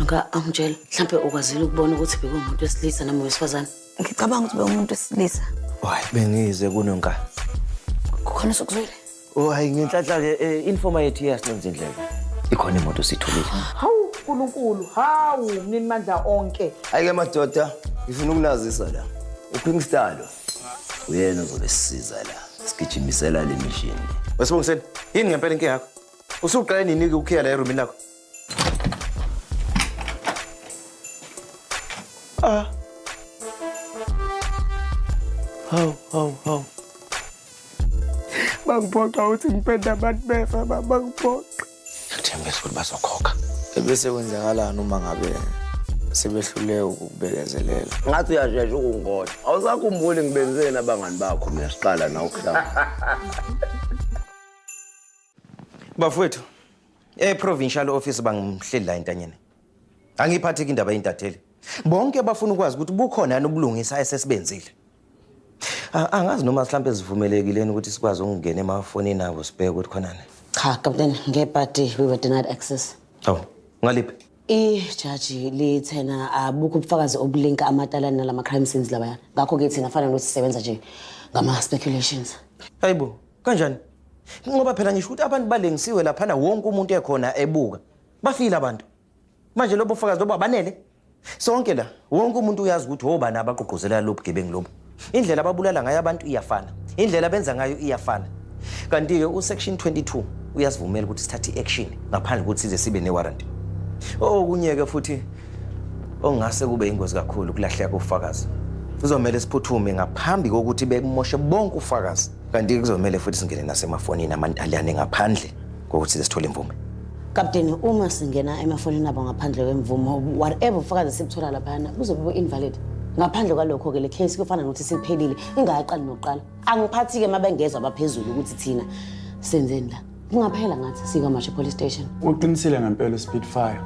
Nka angitshela mhlampe ukwazile ukubona ukuthi bekuwumuntu wesilisa noma wesifazane. Ngicabanga ukuthi bewumuntu wesilisa. Why bengize kunonka. Kukhona osokuzwile. Oh hayi ngenhlanhla ke eh, informa yethu iyasinenza indlela. Ikhona imoto sitholile. Hawu uNkulunkulu, hawu mnini mandla onke. Hayi ke madoda, ngifuna ukunazisa la. Uphimstalo. uyena ozobe sisiza la sigijimisela le mishini wesibongiseni yini ngempela inkinga yakho usuqale nini-ke ukhiya la erumini lakho ah hawu hawu hawu bangiphoxa ukuthi ngipenda abantu befa bangiphoxa Ngiyathembisa ukuthi bazokhokha. Ebese kwenzakalani uma ngabe sebehluleke ukubekezelela? Ngathi uyashesha ukungoda. Awusakhumbuli ngibenzeni abangani bakho mina siqala na ukuhlala. Bafowethu, e-provincial office bangimhleli la entanyeni. Angiyiphatheki indaba yeintatheli. Bonke bafuna ukwazi ukuthi bukhona yani ubulungisa esesibenzile. A- Angazi noma mhlawumbe sivumelekileni ukuthi sikwazi ukungena emafonini abo sibheke ukuthi khonani. Cha, Captain, ngebhadi we were denied access. Hawu, ngaliphi? Ijaji lithena abukho ubufakazi obulinka amatalane nalama crime scenes labaya. Ngakho ke thina fanele ukuthi sisebenza nje ngama speculations. Hayibo, kanjani? Ngoba phela ngisho ukuthi abantu balengisiwe laphana wonke umuntu ekhona ebuka. bafile abantu manje lobo fakazi lobo abanele sonke la wonke umuntu uyazi ukuthi wobani abagqugquzela lobu gebengu lobu indlela ababulala ngayo abantu iyafana indlela benza ngayo iyafana kanti-ke usection 22 uyasivumela ukuthi sithathe i-action ngaphandle kokuthi size sibe ne-warrant okunye-ke futhi okungase kube yingozi kakhulu ukulahleka kofakazi kuzomele siphuthume ngaphambi kokuthi bekumoshe bonke ufakazi kanti kuzomele futhi singene nasemafonini amantaliyane ngaphandle kokuthi size sithole imvume kapteni uma singena emafonini abo ngaphandle kwemvumo whatever ufakazi sikuthola laphana kuzobe bu-invalid ngaphandle kwalokho-ke le case kufana nokuthi siphelile ingakaqali nokuqala angiphathi-ke uma bengezwa abaphezulu ukuthi thina senzeni la kungaphela ngathi sikwamashe police station uqinisile ngempela uspeedfire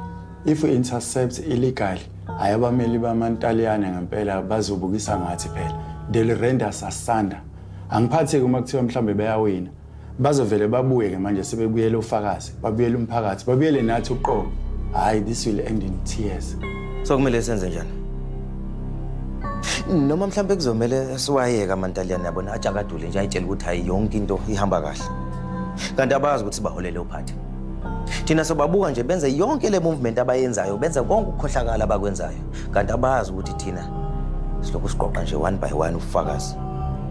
if intercept illegally hhayi abameli bamantaliyane ngempela bazobukisa ngathi phela they'll render sasanda angiphathi-ke uma kuthiwa mhlawumbe bayawina Bazovele babuye ke manje sebebuyele ufakazi, babuyele umphakathi, babuyele nathi uqobo. Hayi this will end in tears. So kumele senze njani? Noma mhlambe kuzomele siwayeke amantaliyane yabona ajakadule nje ayitshela ukuthi hayi yonke into ihamba kahle. Kanti abazi ukuthi baholele uphathi. Thina sobabuka nje benze yonke le movement abayenzayo, benze konke ukukhohlakala abakwenzayo. Kanti abazi ukuthi thina silokhu siqoqa nje one by one ufakazi.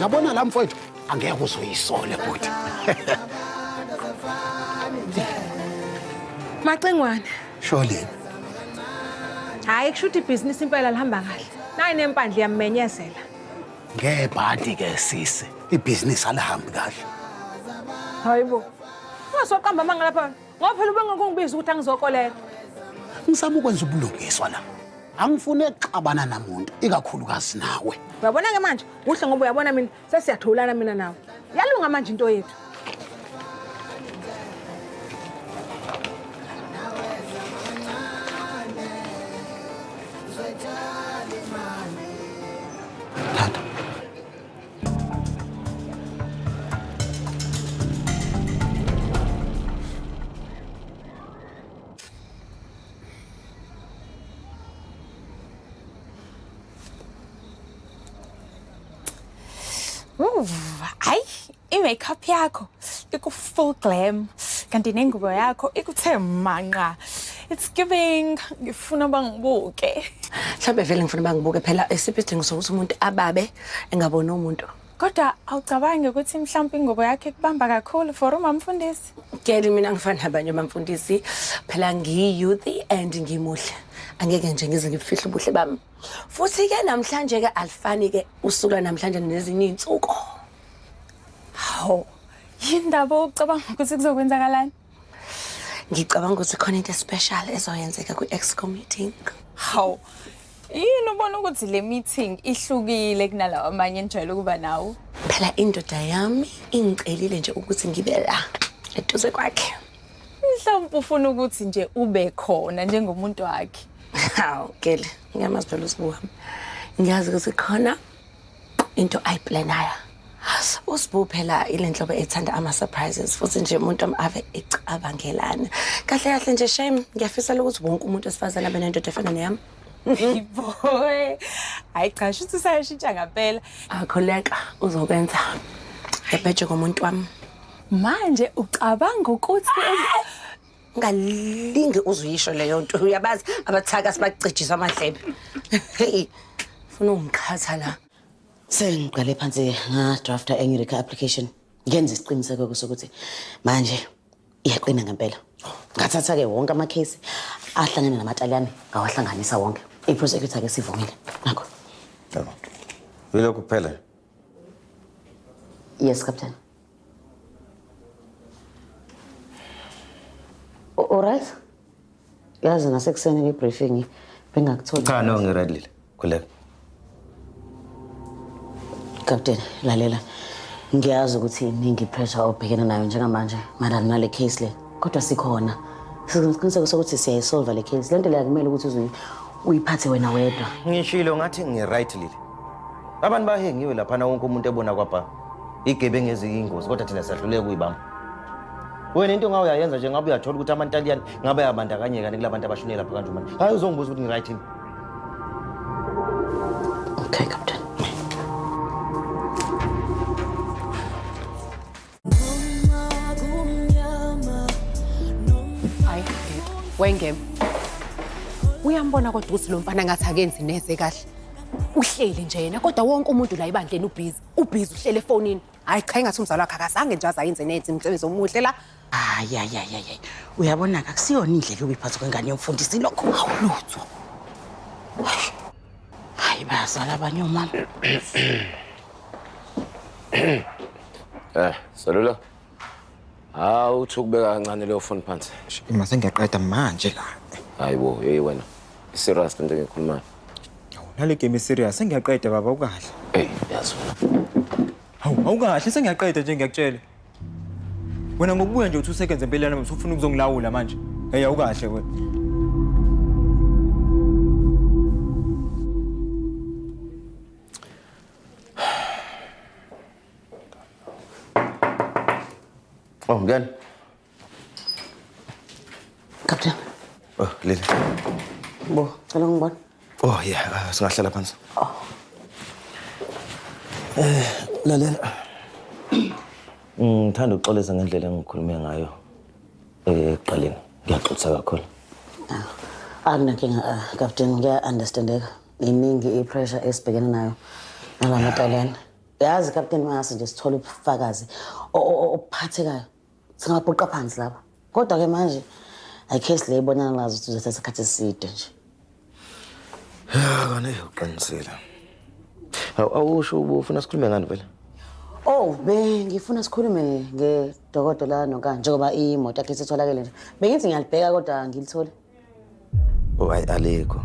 yabona la mfowethu angeke uzoyisole bhuti Macengwane. sholeni Hayi kusho ukuthi ibhizinisi impela lihamba kahle. Nayi nempandla iyammenyezela. ngebhadi ke sisi ibhizinisi alihambi kahle Hayibo. Ungasoqamba amanga lapha ngoba phela ubengakungibiza ukuthi angizokolela. Ngisama ukwenza ubulungiswa la. Angifuni ukuxabana namuntu ikakhulukazi nawe. Uyabona ke manje kuhle ngoba uyabona mina sesiyatholana mina nawe. Yalunga manje into yethu. hayi i-makeup yakho iku-full glam kanti nengubo yakho ikuthe manqa it's giving ngifuna uba ngibuke mhlawumbe vele ngifuna uba ngibuke phela esiphi isidingo sokuthi umuntu ababe engabona umuntu kodwa awucabangi ukuthi mhlawumbe ingobo yakhe kubamba kakhulu for umamfundisi keli mina ngifana nabanye bamfundisi phela ngiyi-youth and ngimuhle angeke nje ngize ngibufihle ubuhle bami futhi-ke namhlanje-ke alifani-ke usuku lwanamhlanje nezinye iy'nsuku hawu yini ndaba ucabanga ukuthi kuzokwenzakalani ngicabanga ukuthi khona into especial ezoyenzeka kwi-exco meeting hawu yini ubona ukuthi le meeting ihlukile kunalawo amanye enijwayele ukuba nawo phela indoda yami ingicelile nje ukuthi ngibe la eduze kwakhe mhlawumpe ufuna ukuthi nje ube khona njengomuntu wakhe hawu gele ngiyamazi phela usibuhami ngiyazi ukuthi khona into ayiplanaya usibu phela ile nhlobo ethanda ama-surprises futhi nje umuntu ave ecabangelana kahle kahle nje shame ngiyafisela ukuthi wonke umuntu wesifazane abe nendoda efana neyami boy hayi cha shuthi usayashintsha ngampela akholeka uzokwenza ebheje komuntu wami manje ucabanga ukuthi ungalinge uzuyisho leyo nto uyabazi abathaka sibacijisa amadlebe heyi funa ungiqhatha la sengiqale phansi ngadrafta enye recur application ngenza isiqiniseko-ke sokuthi manje iyaqina ngempela ngathatha-ke wonke amakhesi ahlangene namataliyane ngawahlanganisa wonke iprosecutor-ke sivumile nakho yilokhu kuphela yes captain Alright. Yazi nasekuseni ke briefing bengakutholi. Cha no ngiread lile. Khuleka. Captain, lalela. Ngiyazi ukuthi iningi pressure obhekene nayo njengamanje madala nale case le. Kodwa sikhona. Sizoqiniseka sokuthi siyayisolve le case. Lento le akumele ukuthi uzuyi uyiphathe wena wedwa. Ngishilo ngathi ngiright lile. Abantu bahengiwe lapha na wonke umuntu ebona kwabha. igebengu eziyingozi kodwa thina siyahluleka ukuyibamba wena into ngawe uyayenza nje ngabe uyathola ukuthi amantaliyane ngabe ayabandakanyeka ni kula bantu abashonele lapha kanje manje hayi uzongibuza ukuthi ngi-right yini okay captain hayi wengema uyambona kodwa ukuthi lo mfana ngathi akenzi neze kahle uhleli nje yena kodwa wonke umuntu la ebandleni ubhizi ubhizi uhlele efonini hayi cha engathi umzali wakhe akazange nje azayenze nenze imisebenzi omuhle la hayi hayi hayi hayi uyabona-ke akusiyona indlela yokuyiphatha kwengane yomfundisi lokho awulutho hayi bayazala abanye omama Eh, salula. hawu uthi ukubeka kancane leyo foni phansi ima sengiyaqeda manje la hayi bo yeyi wena iserious lento engiyikhulumayo nale game iserious sengiyaqeda baba ukahle eyi yazi wena hawu awukahle sengiyaqeda nje ngiyakutshela wena ngokubuya nje uthi usekenze empeleni nami usufuna ukuzongilawula manje eyi awukahle wena Oh, gel. Kaptan, Oh, Lily. bo, cela ngibona. Oh, yeah. Uh, singahlala phansi. Oh. Eh, lalela. Ngithanda mm, ukuxolisa ngendlela engikhulume ngayo eh, ekuqaleni. Ngiyaxolisa kakhulu. Anginankinga, ah, Captain, ah, ngiya-understandeka. Iningi i-pressure esibhekene nayo nala matalente. yazi kapteni mangase nje sithole ubufakazi obuphathekayo singabhuqa phansi lapha kodwa-ke manje ayikesi le ibonana lazo ukuthi uzothatha isikhathi eside nje kane uqinisile awusho ubufuna sikhulume ngani vele ow bengifuna sikhulume ngedokodo la nonkani njengoba imoto yakhe isitholakele nje bengithi ngiyalibheka kodwa ngilithole Oh, hayi alikho.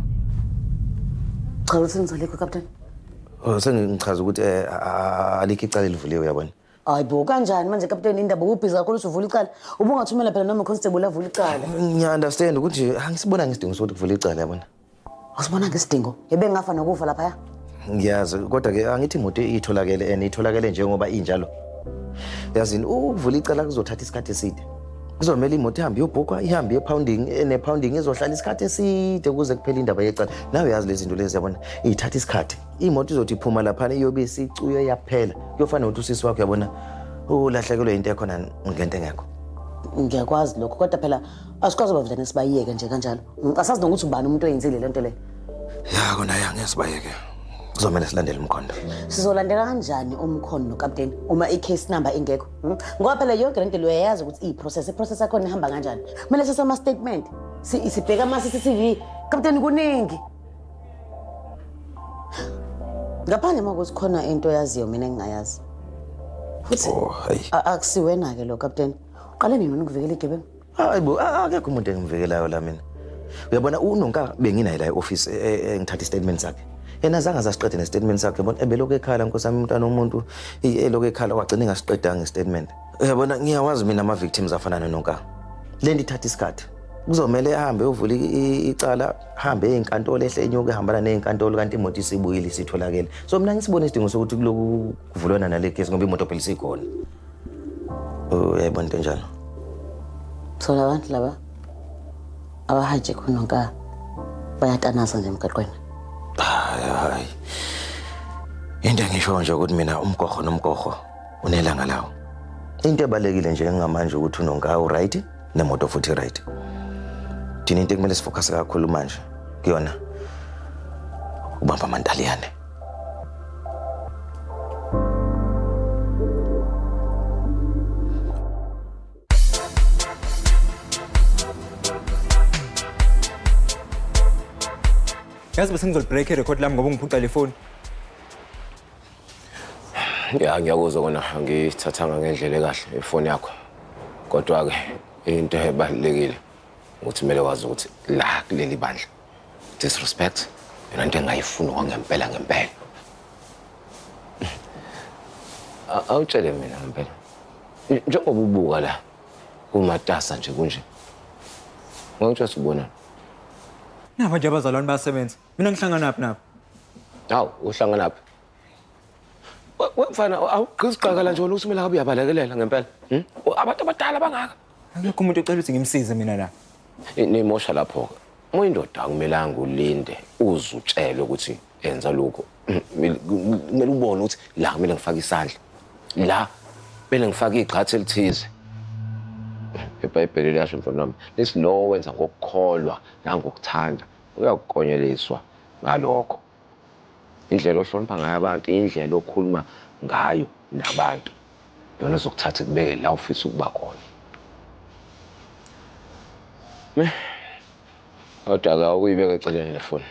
Cha uthi ngizolekho captain. Oh, sengichaza ukuthi eh, a- a- alikho icala elivuliwe uyabona. Hayi bo kanjani manje captain indaba ubhizi kakhulu usuvula icala. Ubungathumela phela noma constable avula icala. Ngiya understand ukuthi angisibona ngisidingo sokuthi kuvula icala yabona. Awusibonanga isidingo ebengafa nokufa laphaya? Ngiyazi kodwa ke angithi imoto itholakele and itholakele njengoba injalo. Yazini ukuvula icala kuzothatha isikhathi eside. Kuzomela imoto ihambe iyobhukwa ihambe ye-pounding ene-pounding izohlala isikhathi eside ukuze kuphele indaba yecala. Nawe yazi lezi zinto lezi yabona ithatha isikhathi. Imoto izothi iphuma laphana iyobe isicuyo yaphela. Kuyofana nokuthi usisi wakho yabona ulahlekelwe into ekhona ngento engekho. Ngiyakwazi lokho kodwa phela asikwazi bavulanisa bayiyeke nje kanjalo. Ngicasazi nokuthi ubani umuntu oyenzile lento le. Ya kona ya ngeke sibayeke. Kuzomela silandele umkhondo. Sizolandela kanjani umkhondo kapteni uma i-case number ingekho? Hmm? Ngoba phela yonke lento uyayazi ukuthi i-process, i-process yakho ihamba kanjani. Kumele sise ama statement. Si sibheka ama CCTV. Kapteni kuningi. Ngaphandle makuthi khona into yaziyo mina engingayazi. Futhi oh, akusiwena ke lo kapteni. Uqale nini ukuvikela igebengu? hayi bo a- akekho umuntu engimvikelayo la mina uyabona unonka benginaye la e-ofisi e- e- engithatha istatement sakhe yena zange azasiqede nestatement sakhe bona ebelokhu ekhala nkosi yami umntwana womuntu i- elokhu ekhala wagcina engasiqedanga istatement uyabona ngiyawazi mina ama-victims afana nononka le nto ithatha isikhathi kuzomele ahambe ovule i- i- icala hambe eyinkantolo ehle enyuke ehambana neyinkantolo kanti imoto isibuyile isitholakele so mina ngisibone isidingo sokuthi kuloku kuvulwana nale gesi ngoba imoto phela isikhona uyayibona into enjalo thola abantu laba abahaje khona nka bayatanaza nje emgaqweni hayi hayi into engisho nje ukuthi mina umgogo nomgogo unelanga lawo into ebalekile nje ngamanje ukuthi unonka uright nemoto futhi right thina into ekumele sifocus kakhulu manje kuyona ubamba amantaliyane yazi bese ngizolibreak irecord lami ngoba ungiphuca le foni ya ngiyakuzwa kona ngiyithathanga ngendlela ekahle ifoni yakho kodwa-ke into ebalulekile ukuthi kumele wazi ukuthi la kuleli bandla Disrespect yona nto engayifuni kwangempela ngempela. A- Awutshele mina ngempela. Nje- Njengoba ubuka la kumatasa nje kunje. Ngokutshela ubona. Nabo nje abazalwane bayasebenza. Mina ngihlanganaphi nabo? Hawu uhlanganaphi? We- we mfana awugqizi qakala nje wena usumela kabi uyabalekelela ngempela Hmm? O, abantu abadala bangaka Akekho umuntu ocela ukuthi ngimsize mina la. I- nimosha lapho-ke uma indoda akumelanga ulinde uze utshele ukuthi enza lokho Hmm, mele- kumele ubone ukuthi la kumele ngifake isandla la kumele ngifake igxathi elithize ebhayibheli liyasho mfana wami lesi lowo wenza ngokukholwa nangokuthanda uyakukonyeliswa ngalokho indlela ohlonipha ngayo abantu indlela okhuluma ngayo nabantu yona zokuthatha ikubeke la ufisa ukuba khona me kodwa ka ukuyibeka eceleni le foni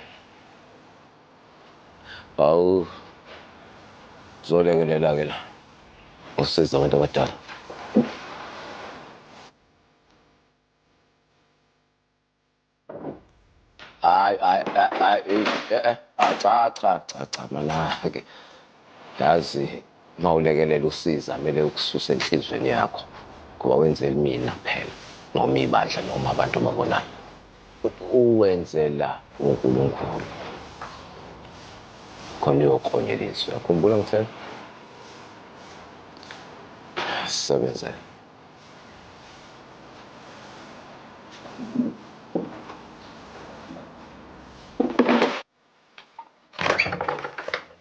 awu zolekelela-ke la usiza abantu abadala hayi hayi hayi eh, eh, eh, ah, cha cha cha cha manake yazi uma ulekelela usiza kumele ukususe enhliziyweni yakho ngoba wenzela mina phela noma ibandla noma abantu ababonayo uwenzela unkulunkulu khona uyoklonyela izwi yakhumbula ngithela sisebenzele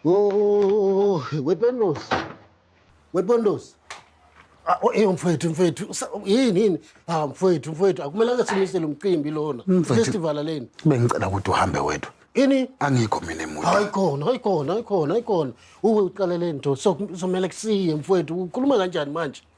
Oh, wePendos. WePendos. Ah, oh, eh mfowethu mfowethu usa- yini yini ah mfowethu mfowethu akumelanga simisele umcimbi lona Mfwethu. festival leni Bengicela ukuthi uhambe wedwa. ini Angikho mina emuva. hayi khona hayi khona hayi khona hayi khona uwe uqaleleni nto so kumele kusiye mfowethu ukhuluma kanjani manje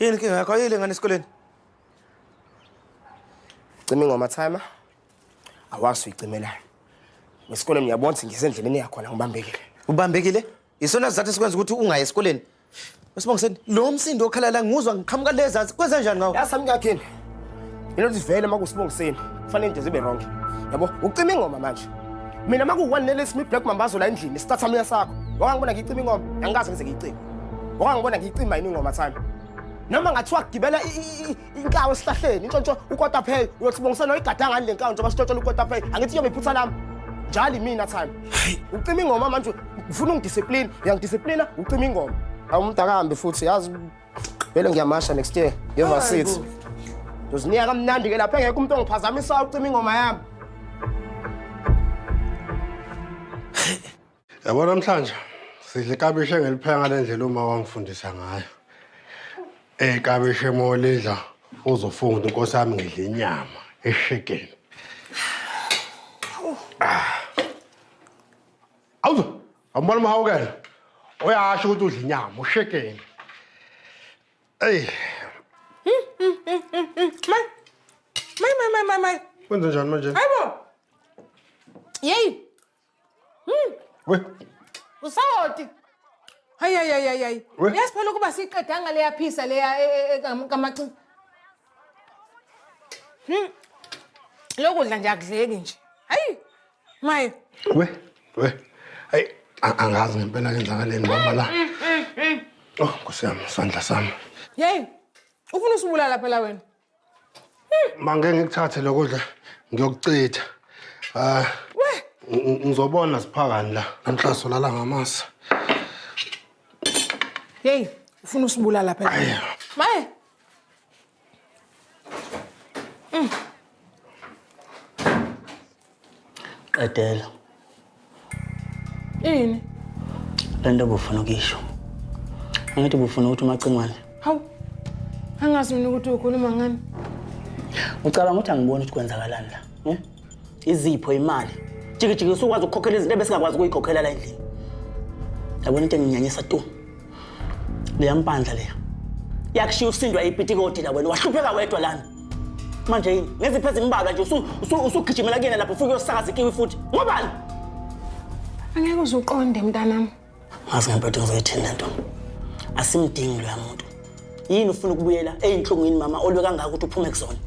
Yini inkinga yakho? Ayile ngane esikoleni. Cima ingoma timer. Awazi uyicimela. Ngesikole ngiyabona ukuthi ngisendleleni yakho la ngibambekile. Ubambekile? Isona sizathu esikwenza ukuthi ungayi esikoleni. Usibongiseni, lo msindo okhala la nguzwa ngiqhamuka lezansi. Kwenza njani ngawo? Yasamnyakheni. Ilothi vele uma kusibongiseni kufanele into zibe wrong. Yabo, ucima ingoma manje. Mina uma ku-one nele simi black mambazo la endlini isitathamiya sakho. Wakangibona ngicima ingoma, angikaze ngize ngiyicime. Wakangibona ngiyicima yini ingoma time. Noma ngathiwa gibela inkawu esihlahleni, intshontsho ukota pay, uyothi bongisana uyigadanga ngani le nkawu njengoba sitshontshola ukota pay. Angithi kuyobe iphutha lami. Njalo imina time. Ucima ingoma manje ufuna ungidiscipline, uyangidisciplina ucima ingoma. Awumdakambi futhi yazi Vele ngiyamasha next year. Ngiyova seats. Ndozinika kamnandi ke lapha engekho umuntu ongiphazamisa ucima ingoma yami. Yabo namhlanje sidla ikabishi engilipheka ngale ndlela uma wangifundisa ngayo. Eh ikabishi molidla uzofunda ukuthi inkosi yami ngidla inyama eshekeni. Awuzo Awubona umhawukela. Uyasho ukuthi udla inyama, ushekeni. Ey, May may may may may. kwenze njani manje? Hayibo. Yey. Hmm. We, Usawoti. Hayi hayi hayi hayi, hayi. We- Yazi phela ukuba siqedanga leya phisa leya e- e- e- kam- kamaxi. Hmm. Lokudla nje akudleki nje. Maye. We, we. Hayi, angazi ngempela kenzakaleni mama la. Mm, mm, mm. Oh, Nkosi yami, sandla sami. Yey. Ufuna usibulala phela wena. Mange ngikuthathe lokho dla ngiyokuchitha. Ah. We. Ngizobona siphakani la. Namhlaso lala ngamasa. Yey, ufuna usibulala phela. Maye. qedela ini le nto bufuna ukuyisho angithi bufuna ukuthi umacingwane hawu angazi mina ukuthi ukhuluma ngani ucabanga ukuthi angiboni ukuthi kwenzakalani la izipho imali jikijiki usukwazi ukukhokhela izinto ebesingakwazi ukuyikhokhela la endlini yabona into enginyanyisa tu leya mpandla leya yakushiya usindwa ipitikoti la wena wahlupheka wedwa lana manje yini ngeziphi ezimbalwa nje usugijimela kuyena lapho ufike uyosakaza ikiwi futhi ngobani angeke uze uqonde mntanami ngazi ngempela ukuthi ngizoyithini le nto asimdingi loya muntu yini ufuna ukubuyela eyinhlungwini mama olwe kangaka ukuthi uphume kuzona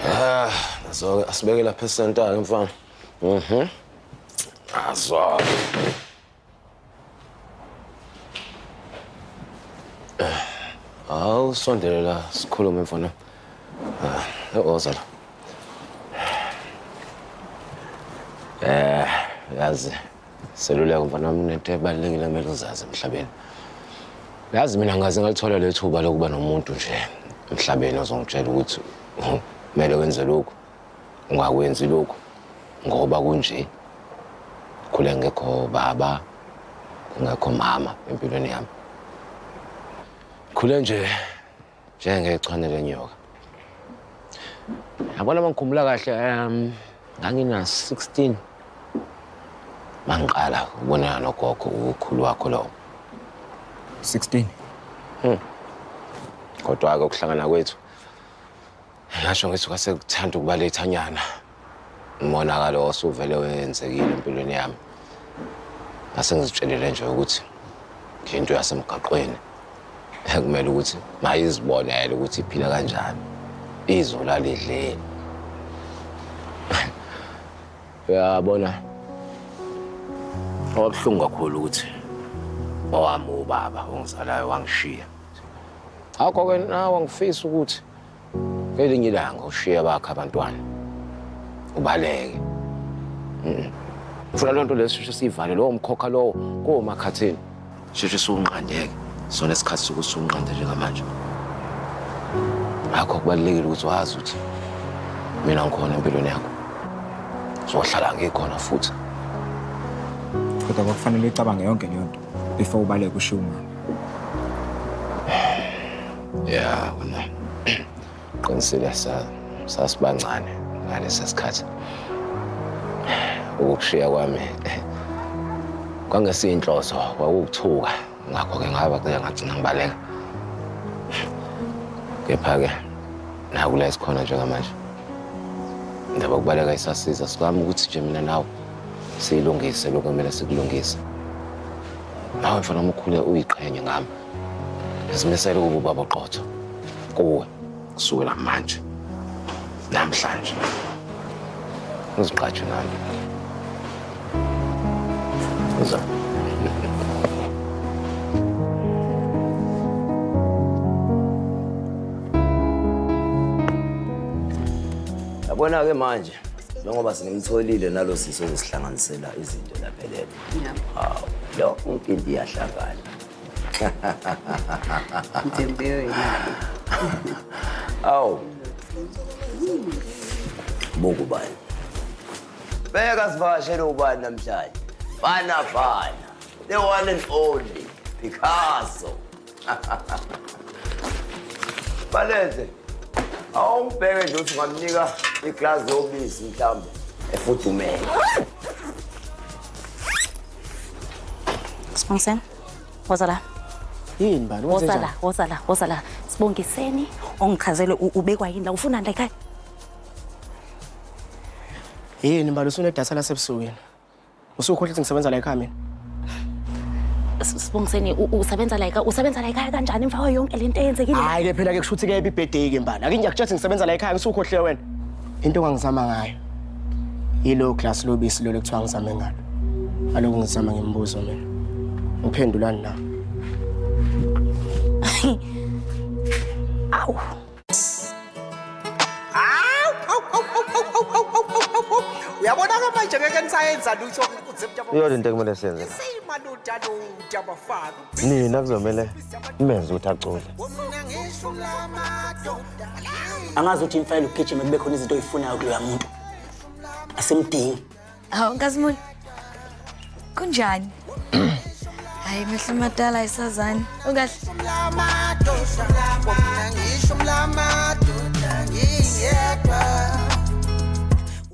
Ah, nazo-ke asibeke lapha esentayo mfana. Mhm. Nazo-ke. Hawu sondele la sikhulume mfana. Ah, oza la. Eh, yazi seluleko mfana wami unento ebalulekile kumele uzazi emhlabeni. Yazi mina ngaze ngalithola lethuba lokuba nomuntu nje emhlabeni ozongitshela ukuthi kumele wenze lokhu. ungakwenzi lokhu ngoba kunje khule ngekho baba ngekho mama empilweni yami khule nje njengechwane lenyoka yabona uma ngikhumbula kahle um ngangina-16 mangiqala ukubonana nogogo ukhulu wakho lowo 16 hmm. kodwa-ke ukuhlangana kwethu Ngasho ngithi kwase kuthanda ukuba lethanyana umonakalo osuvele wenzekile empilweni yami ngase ngizitshelele nje ukuthi into yasemgaqweni ekumele ukuthi mayizibonele ukuthi iphila kanjani izwe lalidleni uyabona owabuhlungu kakhulu ukuthi owami ubaba ongizalayo wangishiya akho-ke nawe ngifisa ukuthi Ngelinye ilanga ushiya bakhe abantwana. Ubaleke. Mhm. Funa lonto lesisho sivale lowo mkhokha lowo komakhathini. Sheshe sunqandeke. Sona isikhathi sokusunqanda njengamanje. Ngakho kubalekile ukuthi wazi ukuthi mina ngikhona empilweni yakho. Sohlala ngikhona futhi. Kodwa kwakufanele icabange yonke leyo nto before ubaleke ushiya umama. ya wena qinisile sa- sasibancane ngalesa sikhathi ukushiya kwami kwangesiyinhloso kwakukuthuka ngakho-ke ngaba ke ngagcina ngibaleka kepha-ke nakula esikhona njengamanje ndaba kubaleka isasiza sikami ukuthi nje mina nawe siyilungise lokhu kumele sikulungise nawe mfana omkhule uyiqhenye ngami Zimisele ukuba ubaba oqotho kuwe kusukela manje namhlanje uziqatshwe nami uza yabona-ke manje njengoba sinimtholile nalo sisi ozosihlanganisela izinto laphelele hawu lo umpimpi iyahlangana Mtembeo imali. Awu. Bongo bani. Beka sivakashele ubani namhlanje. Bana bana. The one and only Picasso. Baleze. Awumbheke nje uthi ungamnika iglasi yobisi mhlawumbe efudumele. Sibongiseni. Woza la. Yini bani? Woza la, woza la, woza la. Sibongiseni ongichazele ubekwa yini la ufuna la ekhaya. Yini bani usune data lasebusuku yini? Usukhohle ukuthi ngisebenza la ekhaya mina. Sibongiseni usebenza la ekhaya, usebenza la ekhaya kanjani emva yonke lento eyenzekile? Hayi ke phela ke kushuthi ke ibibhedeki mbala. Ake ngiyakutshela ukuthi ngisebenza la ekhaya, ngisukhohle wena. Into ongangizama ngayo yilo glass lobisi lolo kuthiwa ngizame ngalo. Aloku ngizama ngemibuzo mina. Ngiphendulani na? Awu. Uyabona ke manje ngeke nisayenza lutho. Iyona into ekumele siyenze. Seyimaluda lo dabafana. nina kuzomele nimenze ukuthi acule angazi ukuthi imfayela ukugijima kube khona izinto oyifunayo kuloya muntu asimdingi hawu nkazimuli kunjani hayi mehlo amadala ayisazani ungahle